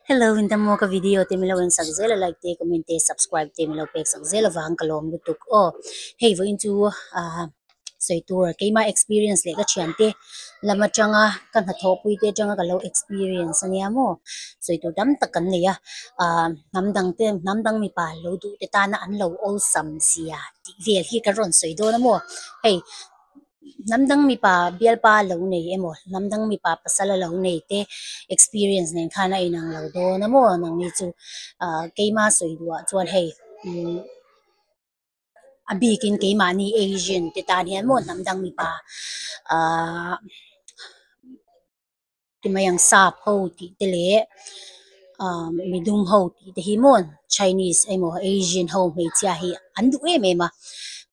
Hello inta mo ka video te milo en sak zela like te comment te subscribe te milo pek sak zela vang ka lawm lutuk aw hei vawiin chu a sawi tur keima experience leh ka thian te lama tanga ka hnathawh pui te tanga ka lo experience ania mo sawi tur tam tak kan nei a a hnam dang te hnam dang mipa lo duh te tana an lo awlsam zia tih vel hi ka rawn sawi dawn a maw hei Hnam dang mipa bialpa a lo nei emaw hnam dang mipa pasal a lo nei te experience nen khan a inang lo dawn a maw nang ni chu ah, keima sawi duhah chuan hei mm, a bikin keimahni asian te tan hian maw hnam dang mipa ah, ti mai ang sap ho tih te leh umm mi dum ho tih te hi mawn chinese emaw asian ho hmeichhia hi an duh em em a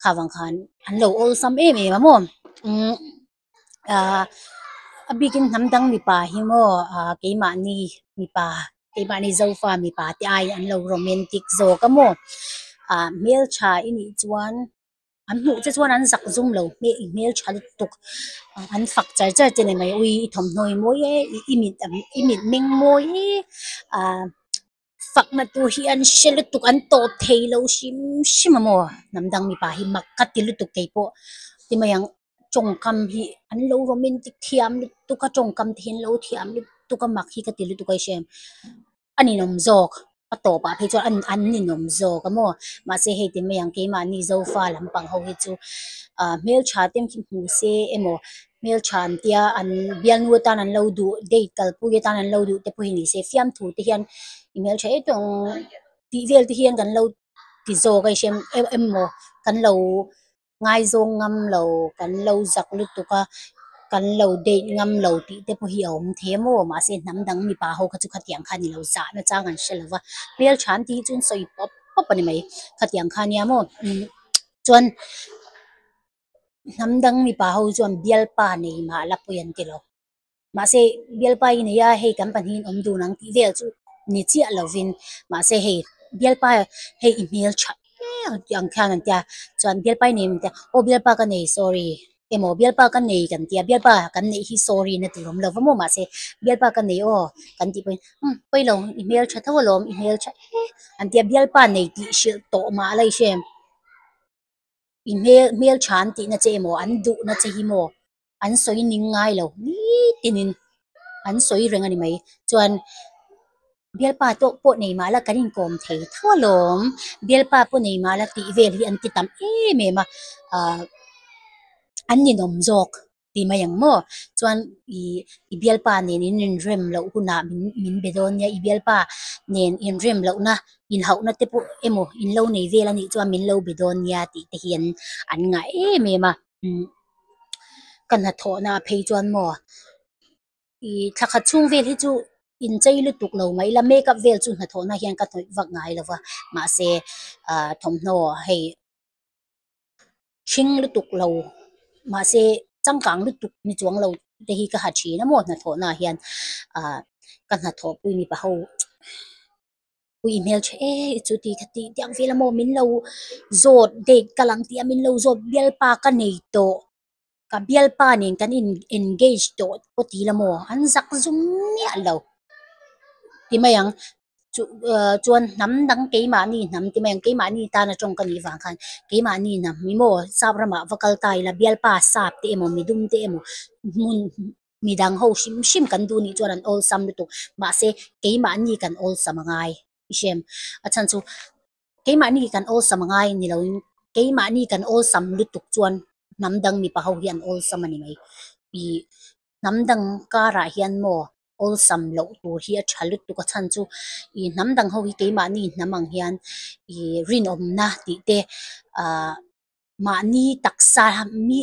kha vang khan an lo awlsam em em a maw umm ah a bikin hnam dang mipa hi maw ah keimahni mipa keimahni zofa mipa te aiin an lo romantic zawk a maw ah hmeltha i nih chuan-- an hmuh te chuan an zak zum lo hmel i hmel tha lutuk an fak char char te nen mai ui i thawmhnaw i mawi e i mit ang i mit meng mawi e ah fakna tur hi an hre lutuk an tawp thei lo hrim hrim a maw hnam dang mipa hi mak ka ti lutuk kei pawh ti mai ang tawngkam hi an lo romantic thiam lutuk a tawngkam te hi an lo thiam lutuk a mak hi ka ti lutuk a i hre ang. a ni nawm zawk a tawpah phei chuan an an ni nawm zawk a maw mahse hei te mai ang keimahni Zofa lampang ho hi chu ah hmeltha te hmu se emaw hmeltha an tia an bialnu atan an lo duh date kalpui atan an lo duh te pawh hi ni se fiamthu te hian i hmel tha etawh ang tih vel te hian kan lo ti zawk a hriam em em maw kan lo-- ngaizawng ngam lo kan lo zak lutuk a, kan lo date ngam lo tih te pawh hi a awm thei maw, mahse hnam dang mipa ho kha chu khatiang khan i lo zah nachang an hre lo va, hmel tha an tih hi chu sawi pawp pawp a ni mai, khatiang khan nia maw chuan hnam dang mipa ho chuan bialpa nei mahla pawh i an ti lo. Mahse, Bialpa i neia hei kan pahnihin awm dun ang tih vel chu ni chiah lovin, mahse hei Bialpa hei i hmel tha nge tih ang khian an tia. Chuan Bialpa i neihim an tia, aw Bialpa ka nei sorry, emaw Bialpa ka nei kan tia, Bialpa kan neih hi sorry na tur awm lova maw mahse Bialpa ka nei aw kan tih pawhin umm pailo i hmel tha tho alawm, i hmel tha e an tia. Bialpa nei tih hrilh tawh mah la i hriam, i hmel tha an tihna che emaw an duhna che hi maw? an sawi ning ngai lo nitin in an sawi reng a ni mai chuan bialpa te pawh nei mah la kan inkawm thei tho alawm bialpa pawh nei mah la tih vel hi an ti tam em em a ah an ninawm zawk ti mai ang maw chuan i i bialpa nen in inrem loh hunah min min be dawn nia i bialpa nen inrem loh na inhauhna te pawh emaw in lo nei vel a nih chuan min lo be dawn nia tih te hian an ngah em em a. Ka hnathawhna a phei chuan maw i thla khat chhung vel hi chu inchei lutuk lo mai ila makeup vel chu hnathawhna hian ka hnawih vak ngai lo va mahse thawmhnaw hei hring lutuk lo mahse changkang lutuk ni chuang lo te hi ka ha thin a maw hnathawhna ah hian ka hnathawhpui mipa ho chu. I hmel tha e i chu tih ka tih diang vel a maw min lo zawt date ka lang tih a min lo zawt bialpa ka nei tawh ka bialpa nen kan in engage tawh pawh tih la maw an zak zum miah lo ti mai ang chu ah chuan hnam dang keimahni hnam ti mai ang keimahni tan atang ka nih vang khan keimahni hnam emaw sap ramah va kal ta ila bialpa sap te emaw mi dum te emaw hmun-- Midang ho hrim hrim kan duh nih chuan an awlsam lutuk. Mahse, keimahni kan awlsam a ngai. I hriam a chhan chu, keimahni kan awlsam a ngai ni loin, keimahni kan awlsam lutuk chuan hnam dang mipa ho hi an awlsam a ni mai. Ih, hnam dang karah hian maw awlsam loh tur hi a tha lutuk a chhan chu, ih, hnam dang ho hi keimahni hnam ang hian ih rinawmna tih te, aah, mahni taksa mi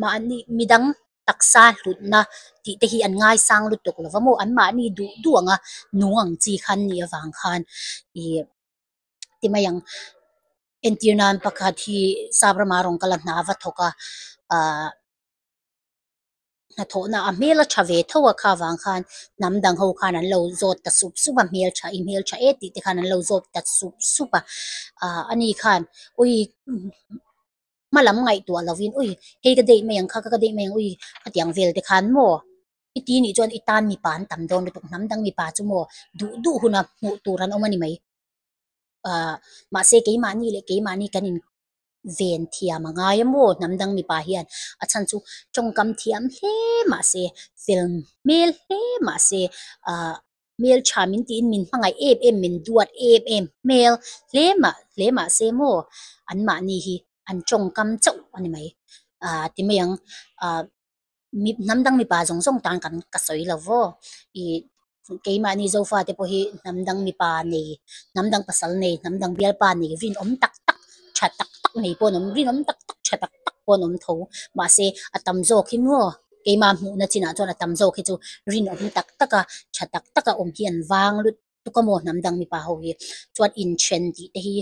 mahni midang taksa hlutna tih te hi an ngaisang lutuk lo va maw an mahni duh duh anga nu ang chi khan nih avang khan ih ti mai ang entir nan pakhat hi sap rama rawn kal a hna va thawk a ahh-- hnathawhna a hmel a tha ve tho a kha vang khan hnam dang ho khan an lo zawt ta sup sup a hmel tha i hmel tha e tih te khan an lo zawt ta sup sup a ah ani khan ui hma lam ngaihtuah lo in ui hei ka daih mai ang kha ka ka daih mai ang ui hetiang vel te khan maw i ti nih chuan i tan mipa an tam dawn lutuk hnam dang mipa chu maw duh duh huna hmuh tur an awm a ni mai ah mahse keimahni leh keimahni kan in Ven thiam a ngai a maw hnam dang mipa hian a chhan chu tawngkam thiam hle mah se, fel hmel hle mah se, ah hmeltha min tiin min hmangaih em em, min duat em em hmel hle mah hle mah se maw anmahni hi an tawngkam chauh a ni mai. Ah ti mai ang. Ah. mi hnam dang mipa zawng zawng tan kan ka sawi lo vaw i keimahni Zofa te pawh hi hnam dang mipa nei hnam dang pasal nei hnam dang bialpa nei rinawm tak tak tha tak tak mai pawh an awm rinawm tak tak tha tak tak pawh an awm tho mahse a tam zawk hi maw keima hmuhna chinah chuan a tam zawk hi chu rinawm tak taka tha tak taka awm hi an vang lut. tuk a maw hnam dang mipa ho hi chuan inthen tih te hi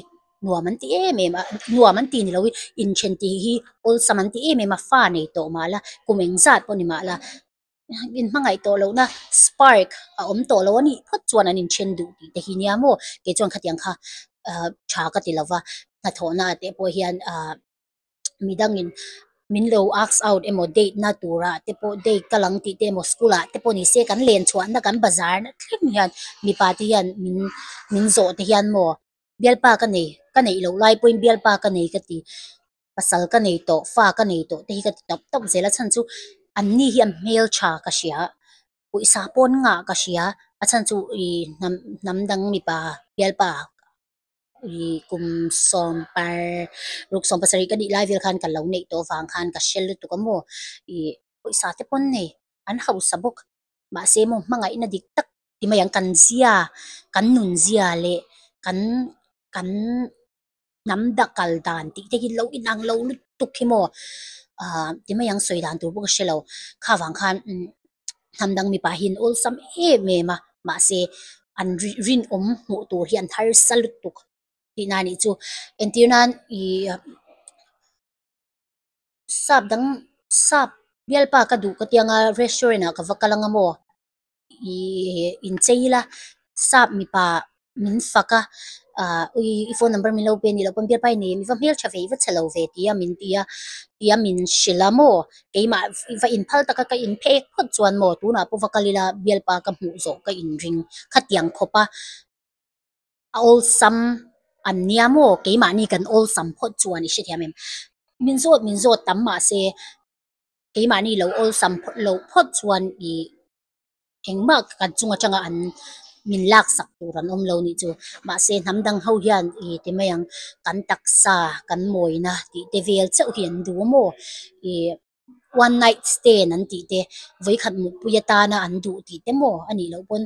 nuam an ti em em a nuam an tih ni loin inthen tih hi awlsam an ti em em a fa nei tawh mah ila kum eng zat pawh ni mah ila in hmangaih tawh lohna spark a awm tawh lo anih phawt chuan an inthen duh tih te hi nia maw kei chuan khatiang kha tha ka ti lova hnathawhna teh pawh hian a. mi dangin min lo ask out emaw date na tura te pawh date kal ang tih te emaw school ah te pawh ni se kan len chhuah na kan bazar na thleng hian mipa te hian min min zawh te hian maw bialpa ka nei ka neih loh lai pawhin bialpa ka nei ka ti pasal ka nei tawh fa ka nei tawh te hi ka ti tawp tawp zel a chhan chu an ni hian hmel tha ka hria pawisa pawn ngah ka hria a chhan chu i hnam hnam dang mipa bialpa. Ri kum sawm par ruk sawm pasarih ka nih lai vel khan ka lo neih tawh vang khan ka hre lutuk a maw ih pawisa te pawn nei an hausa bawk mahse maw hmangaihna dik tak ti mai ang kan zia kan nun zia leh kan kan hnam da kal dan tih te hi lo inang lo lutuk hi maw aa ti mai ang sawi dan tur pawh ka hrelo kha vang khan umm. hnam dang mipa hi an awlsam em em a mahse an rinawm hmuh tur hi an harsa lutuk tihna a nih chu entir nan ih sap dang sap bialpa ka duh ka tiang a restaurant ah ka va kal ang a maw ihh inchei ila sap mipa-- min fak a ah ui i phone number min lo pe ni loh pawn biapai nei mi va hmel tha ve i va chhe lo ve tia min ti a tia min hre la maw keimah i va in phal taka ka in phek phawt chuan maw tunah pawh va kal ila bialpa ka hmuh zawh ka in ring khatiang khawp a a awlsam an nia maw keimahni kan awlsam phawt chuan i hrethiam em min zawt min zawt tam mahse keimahni lo awlsam phawt lo phawt chuan i Engmah kan chung atanga an min laksak tur an awm lo nih chu. Mahse hnam dang ho hian i ti mai ang, kan taksa, kan mawina tih te vel chauh hi an duh maw? I one night stand an tih te, vawikhat mutpui atana an duh tih te maw a nih loh pawn.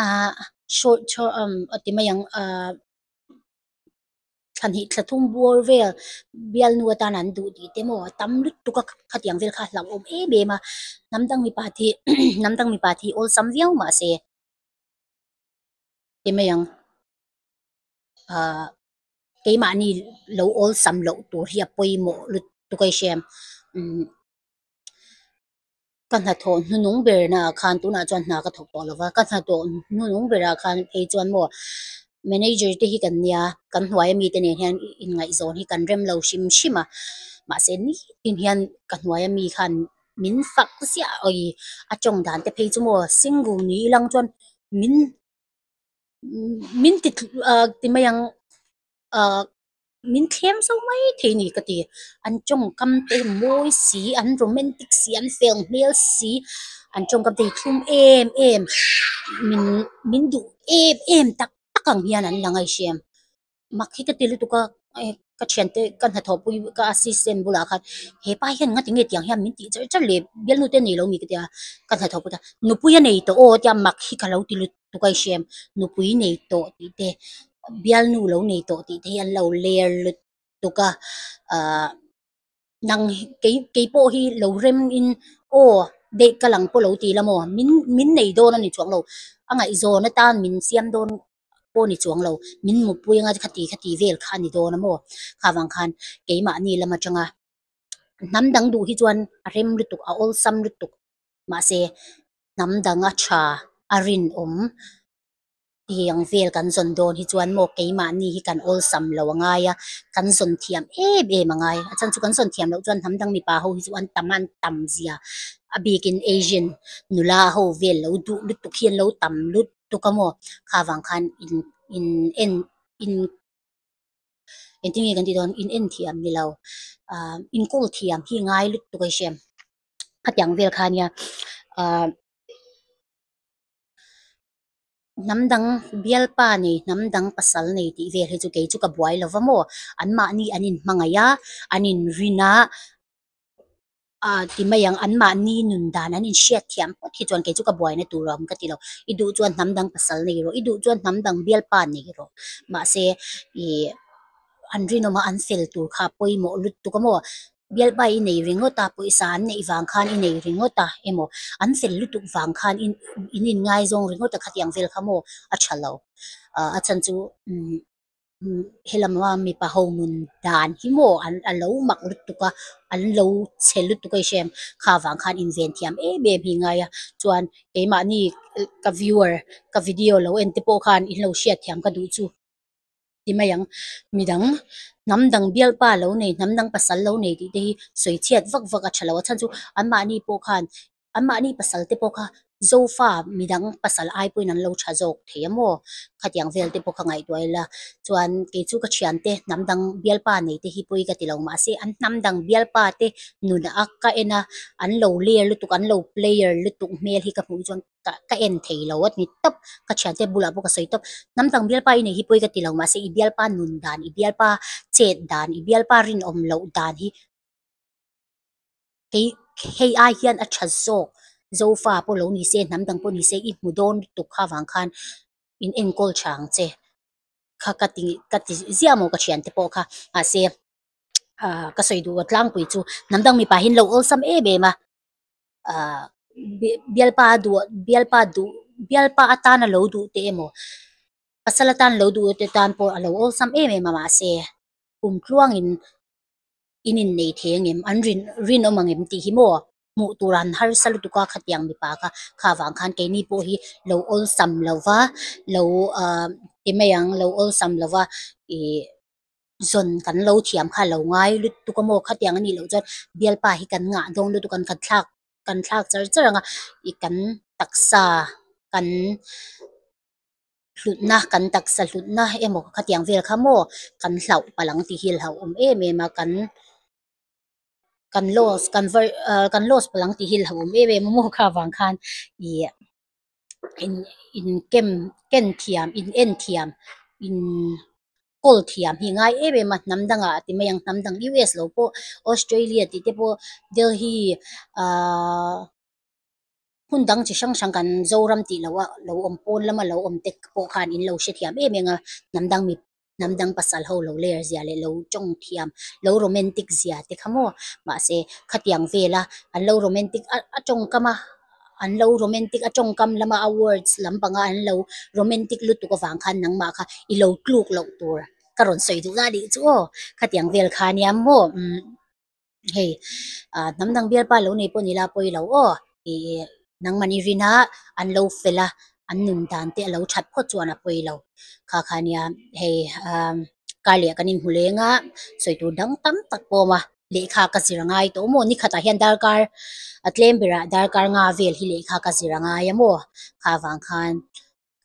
Ahh short term a ti mai ang. thla hnih thla thum bur vel bialnu atan an duh tih te maw a tam lutuk a khatiang vel kha a hlauhawm em em a hnam dang mipa thi hnam dang mipa thi a awlsam viau mah se ti mai ang ahh keimahni lo awlsam loh tur hi a pawimawh lutuk a i hria em umm. ka hnathawh hnu nung ber naah khan tunah chuan hna ka thawk tawh lo va, ka hnathawh hnu nung berah khan hei chuan maw manager te hi kan nia kan hnuaia mite nen hian inngaihzawn hi kan rem lo hrim hrim a, mahse nitin hian ka hnuaia mi khan min fak ziah awhi a tawng dan te phei chu maw single niin a lang chuan min min ti tlu ahh ti mai ang ahh. Min thlem zo mai thei ni ka ti. An tawngkam te mawi si, an romantic si, an fel hmel si, an tawngkam te hi thlum em em, min min duh em em tak tak ang hian an la ngaihsiam. Mak hi ka ti lutuk a, eh, ka thiante ka hnathawhpui ka assistant bulah khan hepa hian ngati nge tiang hian min tih char char leh, bialnu te a nei lo a mi ka tia, ka hnathawhpute nupui a nei tawh aw tia mak hi ka lo ti lutuk. tukai hriam nupui nei tawh tih te bialnu lo nei tawh tih te hi an lo ler lut tuk a ahh nang hi kei keipawh hi lo rem in aw daih ka lang pawh lo ti lam aw min min nei dawn a ni chuang lo a ngaihzawn atan min siam dawn pawh a ni chuang lo min mutpui anga khati khati vel kha a ni dawn a maw kha vang khan keimahni lam atanga hnam dang duh hi chuan a rem lutuk a awlsam lutuk mahse-- hnam danga tha a rinawm tih ang vel kan zawn dawn hi chuan maw keimahni hi kan awlsam lo a ngai a kan zawn thiam em em a ngai a chhan chu kan zawn thiam loh chuan hnam dang mipa ho hi chu an tam a an tam zia a bikin asian nula ho vel lo duh lutuk hi an lo tam lutuk a maw kha vang khan in in en in engtin nge kan tih dawn inenthiam ni lo ah inkawl thiam hi ngai lutuk a hriam. a tiang vel kha nia ah hnam dang bialpa nei hnam dang pasal nei tih vel hi chu kei chu ka buai lo va maw an mahni an in hmangaih a an in rin a ah ti mai ang an mahni nun dan an in hriat thiam pawt hi chuan kei chu ka buai na tur ang ka ti lo i duh chuan hnam dang pasal nei rawh i duh chuan hnam dang bialpa nei rawh mahse ih an rinawm a an fel tur kha a pawimawh lutuk a maw. Bialpa i nei ringawt a, pawisa an neih vang khan i nei ringawt a emaw, an fel lutuk vang khan in in inngaizawng ringawt a khatiang vel kha maw a tha lo. Ahh a chhan chu helama mipa ho nun dan hi maw an a lo mak lutuk a, an lo chhe lutuk a i hre em, kha vang khan inventhiam em em hi ngai a, chuan keimahni ka viewer ka video lo en te pawh khan in lo hriat thiam ka duh chu. ti mai ang midang hnam dang bialpa lo nei hnam dang pasal lo nei tih te hi sawi chhiat vak vak a tha lo a chhan chu anmahni pawh khan anmahni pasal te pawh kha Zofa midang pasal ai pawhin an lo tha zawk thei a maw khatiang vel te pawh kha ngaihtuah ila chuan keichu ka thiante hnam dang bialpa nei te hi pawh i ka tilo mahse an hnam dang bialpa te nunah a ka en a an lo ler lutuk an lo player lutuk hmel hi ka hmuh hi chuan-- ka ka en theilo a ni tawp ka thiante a bulah pawh ka sawi tawp hnam dang bialpa i nei hi pawi ka tilo mahse i bialpa nun dan i bialpa chet dan i bialpa rinawm loh dan hi kei hei ai hian a tha zawk Zofa pawh lo nise hnam dang pawh nise i hmu dawn lutuk kha vang khan in enkawl tha ang che kha ka ti ka ti ziah maw ka thiante pawh kha mahse ahh ka sawi duh tlang pui chu hnam dang mipa hi an lo awlsam em em a. ahh bialpa duh bialpa duh bialpa atan a lo duh teh emaw pasal atan lo duh te tan pawh a lo awlsam em em a mahse kum tluangin in innei thei angem an rin rinawm angem tih hi maw hmuh tur an harsa lutuk a khatiang mipa kha kha vang khan keini pawh hi lo awlsam lo va lo ahh ti mai ang lo awlsam lo va ihh-- zawn kan lo thiam kha a lo ngai lutuk a maw khatiang a nih loh chuan bialpa hi kan ngah dâwn lutuk an kan thlak kan thlak char char ang a ih kan taksa kan hlutna kan taksa hlutna emaw khatiang vel kha maw kan hlauh palang tih hi a hlauh awm em em a kan kan loss kan var ah kan loss palang tih hi a hlauhawm em em a maw kha avang khan ih in inken kenthiam inenthiam in-- Paul thiam hi ngai em em a, hnam dang ah a ti mai ang, hnam dang US lo pawh, Australia tih te pawh, Delhi aaa hun dang chi hrang hrang kan Zoram tih loh ah lo awm pawn lam ah lo awm te pawh khan in lo hre thiam em em a, hnam dang mipa, hnam dang pasal ho lo ler zia leh lo tawng thiam, lo romantic zia te kha maw, mahse khatiang vel a an lo romantic a tawng kam a. an lo romantic a tawngkam lama a words lam panga an lo romantic lutuk avang khan nangmah kha i lo tluk loh tur ka rawn sawi duhna a nih chu aw khatiang vel kha nia maw umm hei ah hnam dang bialpa lo nei pawh nila pawi lo aw ih nangman i rin a an lo fel a an nun dan te a lo that phawt chuan a pawi lo kha kha nia hei ah kar leh kan inhmu leng a sawi tur dang tam tak pawm a. lehkha ka zir a ngai tawh maw ni khatah hian darkar a tlem berah darkar nga vel hi lehkha ka zir a ngai a maw kha vang khan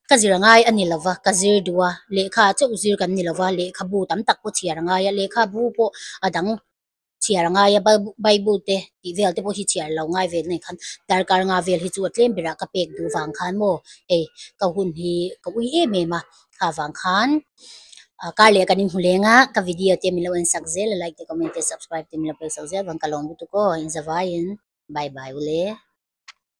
ka zir a ngai a ni lo va ka zir duh a lehkha chauh zir kan ni lo va lehkhabu tam tak pawh chhiar a ngai a lehkhabu pawh a dang chhiar a ngai a bible te tih vel te pawh hi chhiar lo ngai ve nen khan darkar nga vel hi chu a tlem berah ka pek duh vang khan maw hei ka hun hi ka ui em em a. kha vang khan ah kar leh kan inhmu leng a ka video te min lo en sak zel a like te comment te subscribe te min lo pel sak zel a ka lawm lutuk aw inzawaiin bye bye ule.